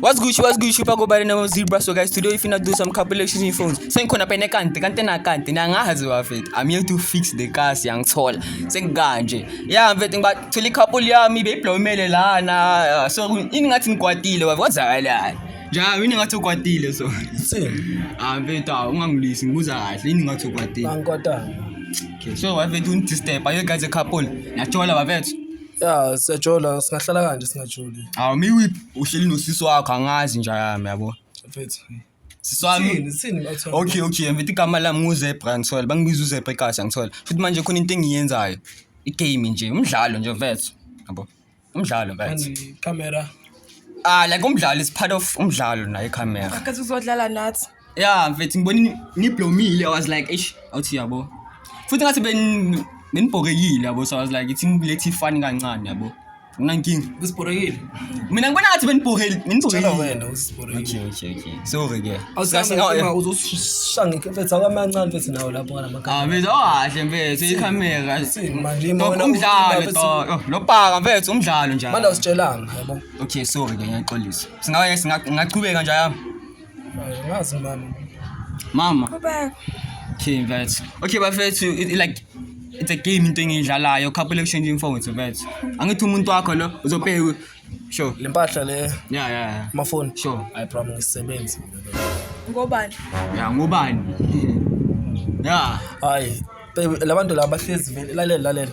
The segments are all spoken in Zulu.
What's good, what's good, Shupa go by the name of Zebra. So guys, today we finna do some calculations in phones. Sen kona pene kante, kante na kante, na nga hazi wafet. I'm here to fix the cars yang tall. Sen ganje. Yeah, I'm vetting but tuli couple ya mi be plomele la na. So ini ngathi ngikwatile wafet. What's that like? Ja, ini ngathi ukwatile so. Sen. Ah, veta ungangilisi ngibuza kahle. Ini ngathi ukwatile. Bankwata. Okay, so wafet unti step. Are you guys a couple? Nachola wafet. ya siyajola singahlala kanje singajoli Awu miwiphi uhleli nosisi wakho angazi nja yami yabo. mfethu Sisi wami. Sithini, sithini bathole? Okay okay mfethu igama lami nguZebra ngithola bangibiza uZebra ekhaya ngithola. Futhi manje khona into engiyenzayo. Igame nje umdlalo nje mfethu. Yabo. Umdlalo mfethu. Kanti camera Ah like umdlalo is part of umdlalo naye camera. Akathi uzodlala nathi. ya mfethu ngibona niblomile i was like eish awuthi yabo futhi ngathi ben- benibhokekile yabo so i was like ithi nilethe ifani kancane yabo unankinga Usibhorekile. mina ngibona ngathi benibhokeli Tshela benibhokekile wena usibhorekile. okay okay okay sorry ke Awusanga uzosishanga ikhefe awamancane mfethu nawo lapho kana makhala. Ah, mfethu owahle mfethu ikhamera Manje Dog, mona umdlalo uthi- dog. Oh, lo bhaka mfethu umdlalo njalo Manje awusitshelanga yabo. okay sorry ke ngiyaxolisa singaye singa- ngingachubeka nje yami Ngazi mama. Mama. Qhubeka. Okay, mfethu. Okay, bafethu like it's a game into engiyidlalayo couple exchange phones mfethu. Angithi umuntu wakho lo uzobheka sure. Le mpahla le. Yeah, yeah, yeah. Amafoni. Sure. I promise isebenzi. Ngobani? Yeah, ngobani? Yeah. Hayi. Labantu laba bahlezi vele lalela lalela.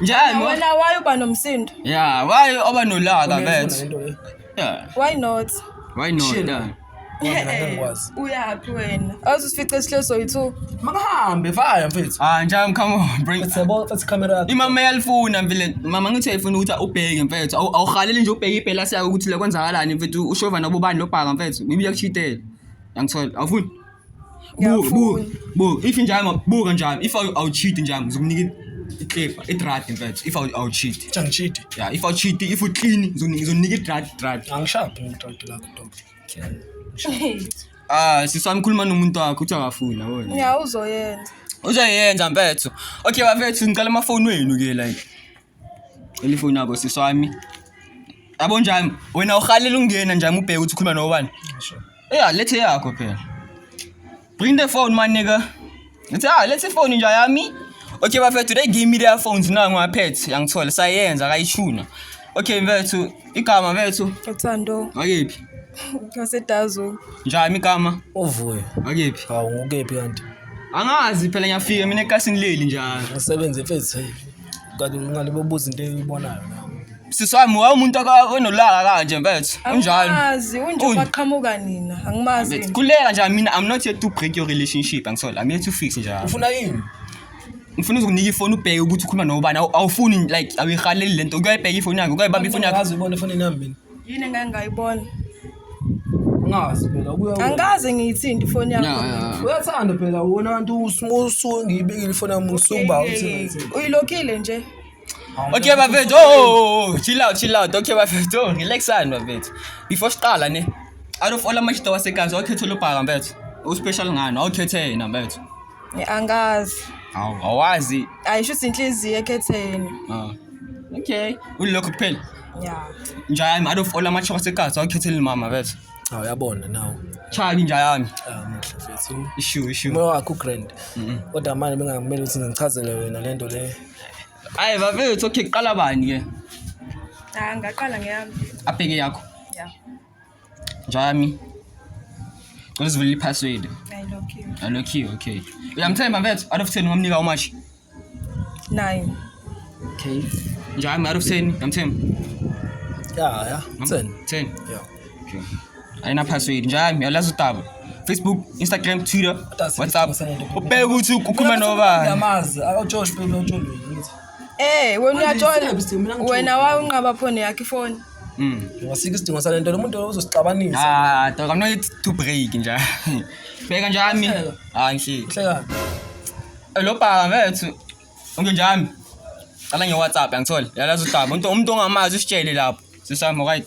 Njani? Wena Wena why uba nomsindo? Yeah, why oba nolaka Uneyifuna bet? lento le. Yeah. Why not? Why not? Chill. Yeah. Wena ngeke ngikwazi. Uyaphi wena? Awuzusifice sihlelo soyi-two. Makahambe fire mfethu. Ah, njani come on, bring. Let's yabo let's camera yakho. Imama yalifuna mfile. Mama ngithi ayifuna ukuthi ubheke mfethu. Awu- Awuhaleli nje ubheke iphela siya ukuthi la kwenzakalani mfethu. Ushova nobubani lobhaka mfethu. Ngibuya kuchitela. Angithola. Awufuni? buka buka if njalo buka njalo if awucheat njalo ngizokunika iklepa idrad mfethu if awucheat angichidi ya if awucheat if uclean ngizokunika idrad drad angishabi ngidrad lakho dog ah sisami khuluma nomuntu wakho uthi akafuni yabona ya uzoyenza uzoyenza mfethu okay bafethu ngicela amafoni wenu ke like Elifoni yakho sisi wami. Yabo njami wena uhalela ungena njami ubheke ukuthi ukhuluma nobani. Yeah, lethe yakho phela. Bring the phone my nigga. Lethe ah, lethe phone nja yami. Okay bafethu they give me their phones now ngaphethe yangithola sayenza akayishuna. Okay mfethu igama mfethu. Uthando. Akephi? Ngasedazo. Njami igama? Uvuyo. Akephi? Hawu ngukephi kanti? Angazi phela ngiyafika mina ekasini leli njalo. Ngisebenze mfethu. kanti ungalibobuza into eyibonayo nawe sisi wami wawumuntu onolaka kanje mfethu unjani angimazi unje Unje. kwaqhamuka nina angimazi Mfethu, khuleka nje mina i'm not here to break your relationship angisole i'm here to fix nje ufuna yini ngifuna uzokunika ifoni ubheke ukuthi ukhuluma nobani Awu- awufuni like awuyihaleli le nto kuyayibheka ifoni yakhe kuyayibamba ifoni yakhe Angazi ubona efonini yami mina yini engake ngayibona ngazi phela kuya angikaze ngiyithinte ifoni yakho uyathanda phela wona abantu usuke ngiyibekile ifoni yami usuba uyilokhile nje Okay bafethu oh, oh, oh, oh chill out chill out okay bafethu oh relaxani bafethu before siqala ne out of all amashito wasekanzi wakhetha lobhaka mfethu uspecial ngani awukhethe yena mfethu angazi Awu, awazi ayisho ukuthi inhliziyo ekhetheni Ah. okay ulokho kuphela ya njayami out of all amachoka sekazi awukhetheli mama bethu Cha uyabona nawo. chabi njayami Ah muhle mfethu. ishu ishu Umoya wakho ugrand. Kodwa manje bengakumele ukuthi ngichazele wena lento le. ayi bafethu okay kuqala bani ke angaqala ngeyami abheke yakho ya Jami. Cela usivulele i-password. Alokhiwe, okay. Uyamthemba mfethu, out of 10 ungamnika how much? 9. Okay. Jami, out of 10 uyamthemba? Yeah, yeah. 10. 10. Yeah. Okay. Ayina password. Jami, uyalazi utaba. Facebook, Instagram, Twitter, WhatsApp. Ubheke ukuthi ukhuluma nobani. Ngiyamazi, awujosh phela ujosh. Eh, wena uyathola. Wena wawunqaba phone yakhe ifoni. Mm. Wasika isidingo sale nto lomuntu uzosixabanisa. Ah, dog, I'm not yet to break nje. Bheka nje ami. Ah, ngihleki. Hleka. Eh, Lo bhaka mfethu. Unge njami. Cala nge WhatsApp angithole. Yalazi udaba. Umuntu umuntu ongamazi usitshele lapho. Sisama right.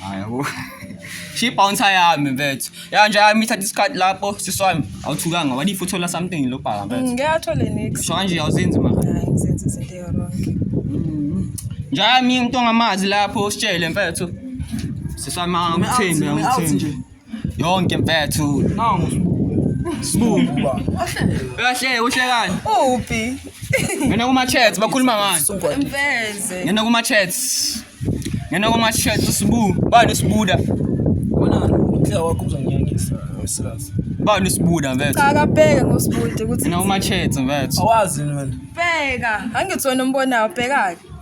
Hayi yabo. She bounce yami mfethu. Ya nje amitha discard lapho siswami. Awuthukanga wani if uthola something lo bhaka mfethu. Mm, Ngeke athole next. Sho kanje awuzenzi mara. Hayi ngizenza izinto eronke. Njami umuntu ongamazi lapho usitshele mfethu. Siswami angikuthembi angikuthembi. yonke mfethu Nangu sibuke. sibuku kahle uhlekani Uphi? ngena kuma chats bakhuluma ngani Sungwa. Mfeze. ngena kuma chats ngena kuma chats usibu bani usibuda Wena uthela wakho uzonyangisa. Wesilazi. bani usibuda mfethu Cha akabheke ngosibude ukuthi ngena kuma chats mfethu Awazi yini wena? bheka. Angithi wena umbonayo bhekake.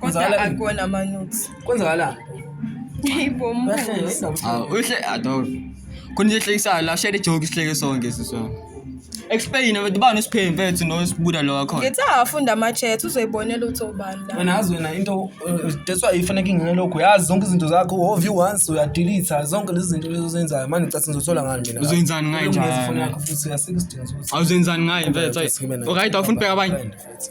Kodwa Kwenzakala- akuwona ama-nudes. Kwenzakalani? Hayi bo, mbuzo. Uyahleka, yini ndaba? Ah, uhle ador. Khona nje ehlekisayo la share joke sihleke sonke sisona. Explain abantu bani usipheni mfethu no sibuda lo wakhona. Ngithi afunda ama-chat uzoyibonela ukuthi ubani la. wena yazi wena into eh, that's why ifanele kingene lokho yazi zonke izinto zakho hove you once uyadelete zonke lezi zinto lezi ozenzayo manje ngicatha ngizothola ngani mina Uzoyenzani ngayo Ukulungisa njalo? ifoni yakho futhi asikho isidingo sokuthi Awuzenzani ngayo mfethu. Sibe nayo. Alright awufuni bheka abanye. Friend, futhi.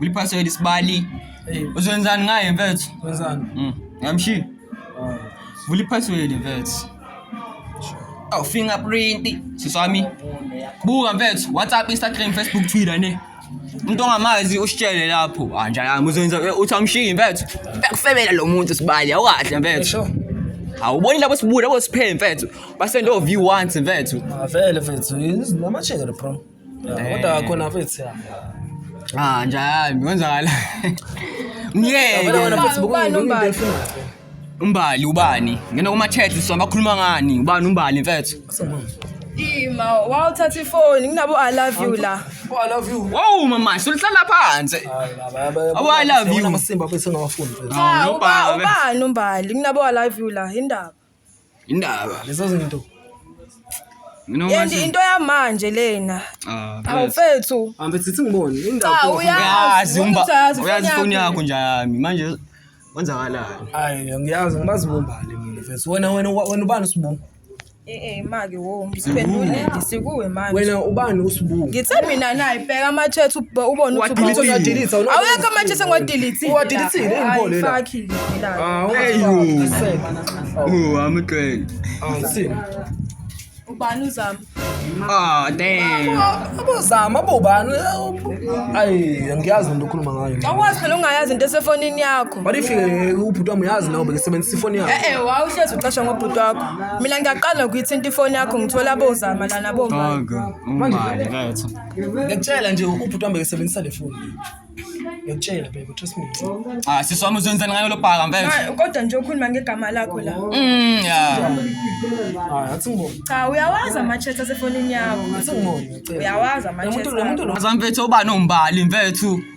Uliphasela isibali. Hey, Uzwenzani ngaye mfethu? wenzani? Mm. Ngamshi. Ah, Vula iphasweli mfethu. Oh, fingerprint. Siswami. Buka mfethu, WhatsApp, Instagram, Facebook, Twitter ne. Umuntu ongamazi usitshele lapho. Ah, njalo yami uzoyenza eh, uthi amshiyi mfethu. Bekufebela lo muntu sibali, awukahle mfethu. Esho. Awuboni labo sibuya labo siphele mfethu. Basendo view once mfethu. Ah, vele mfethu, namachele bro. Kodwa wakhona futhi. Ah nje hayi kwenzakala. Myeke. Umbali ubani? Ngena kuma chats so bakhuluma ngani? Ubani umbali mfethu? Ima, wawuthatha ifoni nginabo I love you la. Oh, I love you. Wow mama, sulihlala phansi. Oh, I love you. Amasimba bese ngawafuni. Ubani umbali nginabo I love you la, indaba. Indaba. Lezo zinto. Mina Yendi manje. into yamanje lena. Ah, Hawu mfethu. mfethu. Hambe sithi ngibone Cha indaba. uyazi. Uyazi umba. ukuthi uyazi Uyazi ifoni ifoni yakho. yakho nje yami. Manje kwenzakalani? Hayi ngiyazi ngibazibumbane mina mfethu. Wena wena wena ubani usibumba? Eh eh maki. Wo, msiphendule ngisikuwe manje. wena ubani usibuka Ngithe mina naye bheka amatshethu ubone ukuthi Uwadilitile. ukhona. Uwadilitha, uno- Awekho amatshethu engiwadilithile. Uwadilithile, yini Hayi, pho lena? fuck it, ngidlala. Ah, Hey, you. Ooh, I'm a train. awusini Ubani uzama? Oh, damn. abozama abobani ayi angiyazi into okhuluma ngayo Awukwazi phela ungayazi into esefonini yakho. but if eh, ubhuti wami uyazi nawo bekesebenzisa ifoni yakhe Eh eh, wawuhlezi uqasha ngobhuti wakho. Mina ngiyaqala ngokuyithinta ifoni yakho ngithola bozama lana bomama. Gogo, umbali bethu. Ngiyakutshela nje ubhuti wami bekesebenzisa le foni. Ngiyakutshela baby, trust me. Ah, sisi wami uzenzani ngayo lobhaka mfethu? Ma, Kodwa nje ukhuluma ngegama lakho la. Mm, yeah. Hayi, athi ngibona. Cha uyawazi ama-chat asefonini yakho. Athi ngibona. ngiyacela. Uyawazi Lo muntu ama-chat lo muntu akho. lo Azamfethu ubani umbali mfethu?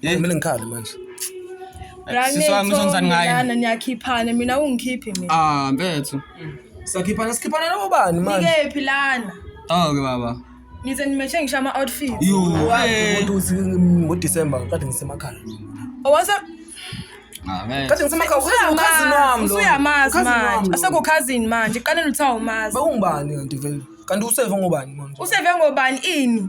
Hey. Mina ngikhale manje. Sisi wami uzonzani ngaye? Lana niyakhiphana mina ungikhiphi mina. Ah, mfethu. Sakhiphana sikhiphana nabo bani manje? Nikephi lana? Dog baba. Nize nimeshe ngisho ama outfit. Yo, umuntu uthi ngo December kade ngisemakhaya. Owasa Amen. Kade ngisemakhaya ukhazini ukhazini wami lo. Usuyamazi manje. Aseko cousin manje. Qale nilithawu mazi. Bewungubani kanti vele? Kanti useve ngobani manje? Useve ngobani ini?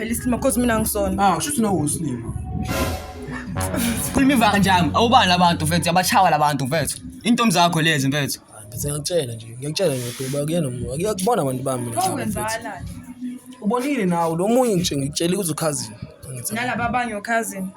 Phela isilima cause mina ngisona. Ah, kushuthi nawe usilima. Sikhuluma ivanga njami. Awubani labantu mfethu, yabachawa labantu mfethu. Intombi zakho lezi mfethu. Bese ngiyakutshela nje, ngiyakutshela nje ukuthi uba kuyena umuntu. Akuyakubona abantu bami mina. Hawu mfethu. wenzakalani? Ubonile nawe lo munye ngitshe ngikutshela ukuthi ukhazini. Nalaba abanye okhazini.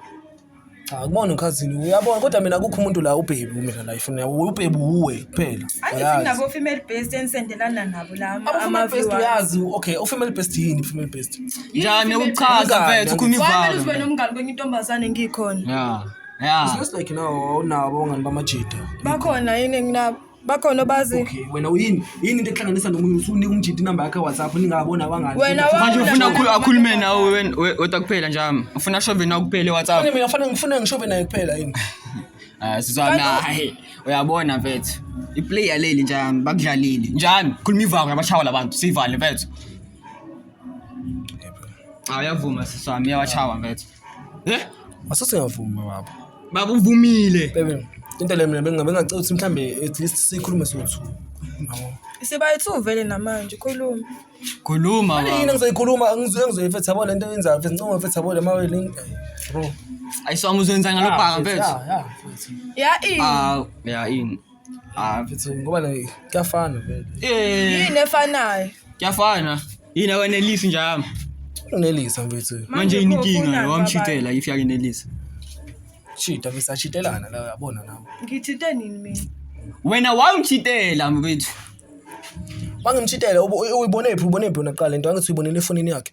Cha kubona ukhazini uyabona kodwa mina kukho umuntu la ubhebi mina la ifuna ubhebi uwe kuphela. Angithi nabo female based enisendelana nabo la ama based uyazi okay u female based yini female based. Njani ukuchaza mfethu khuma ivalo. Wamele ube nomngani kwenye intombazane ngikhona. Yeah. Yeah. It's like now awunabo ngani bamajita. Bakhona yini nginabo. bakhona obazi okay wena uyini yini into ekuhlanganisa nomunye usunika umjidi inamba yakhe WhatsApp ningabona wangani wena manje ufuna ukhulu akhulume nawe wena wetwa kuphela njami ufuna shove nawe kuphela WhatsApp mina ngifana ngifuna ngishove naye kuphela yini ah sizwa naye uyabona mfethu iplayer leli njami bakudlalile njami khuluma ivanga yabashawa labantu sivale mfethu awuyavuma siswami yawachawa mfethu Eh? Asase ngavuma baba. Baba uvumile. Bebe. Into le mina bengabe ngacela ukuthi mhlambe at least sikhulume sothu. Yabo. Sibayithu vele namanje khuluma. Khuluma Manje yini baba. engizoyikhuluma angizwe engizoyifetha yabo lento yenzayo mfethu ngicela ngifetha yabo lemawe link. Bro. Ayisoma uzoyenza ngalobhaka mfethu. Yeah, yeah. Ya i. Ah, yeah, ini. Ah mfethu ngoba na kuyafana vele. Eh, yini efanayo kuyafana. Yini awenelisi njalo. Unelisa mfethu. Manje yini inkinga ufunani lo wamshitela if yakenelisa. Chita bese achitelana la uyabona nawe. babanye? ngithinte nini mina Wena wawumshitela mfethu. Mangimchitela ubu- uyibonephi ubonephi wena kuqala into angithi uyibonele efonini yakhe.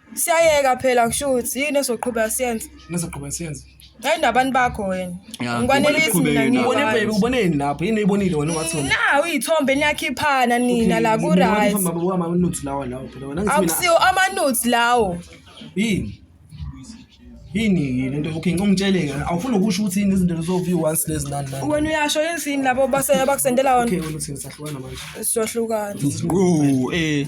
Siyayeka phela kushuthi yini esoqhubeka siyenze. Ngizoqhubeka siyenze. Hayi nabantu bakho wena. Yeah, Ngikwanelisi uqhubeke mina nawe. Ubone baby, ngiyona. uboneni lapho? Yini uyibonile wena wathona? Nawu iyithombe niyakhiphana nina la ku right. Amanuthi lawa lawo phela wena ngithi mina. Akusiwo amanudes lawo. Yini? Yini yini into okay ngicongitshele ke awufuni ukusho ukuthi yini izinto lezoviwa once lezi nani nani. Wena uyasho yini lapho base bakusendela wona. Okay wena uthini sahlukana manje. Sizohlukana. Quu eh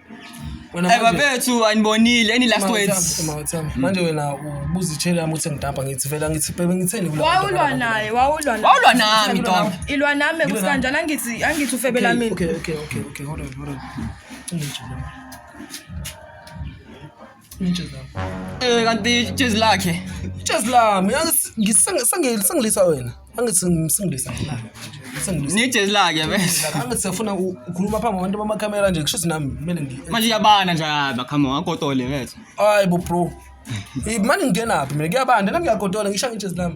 Eba bethu anibonile any last words. Mm. Manje wena ubuzitshela ukuthi ngidampa ngithi vela ngithi bebe ngitheni kula. Wawulwa naye, wawulwa naye. Wawulwa nami dog. Ilwa nami kusikanjani angithi angithi ufebela mina. Okay, okay, okay, okay. Hold on, hold on. Ungijule. Eh kanti ijezi lakhe. Ijezi lami ngisengilisa wena. Angithi ngisengilisa wena. Ni ijezi lakhe bese. Angithi sifuna ukukhuluma phambi kwabantu bamakhamera nje kusho nami kumele ngi. Manje yabana nje yaba come on akotole bese. Hayi bo bro. Imani ngingenaphi mina kuyabanda nami ngiyagodola ngisho ngijezi lami.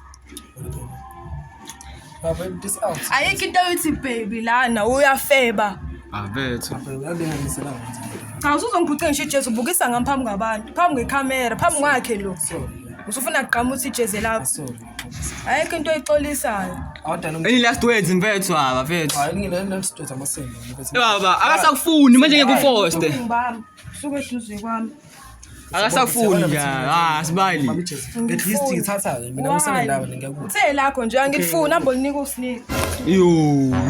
ayikho into yokuthi baby lana uyafeba abethu cha usuzongiphuca ngisho ijezi ubukisa ngami phambi kwabantu phambi ngekhamera phambi kwakhe lo usufuna kugqama uthi ijezi lakho ayikho into oyixolisayo Any last words mfethu haba mfethu. Baba akasakufuni manje ngeke ufoste. Ngibamba suke eduze kwami. akasafuni nje ah sibali at least ngithatha ke mina ngisana ndawo ngiyakubona uthe lakho nje angilifuni hambo linika usnike yo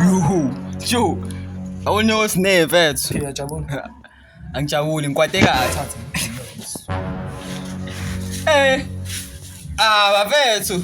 yo sho awone osne mfethu ngiyajabula angijabuli ngikwate kahle eh ah bafethu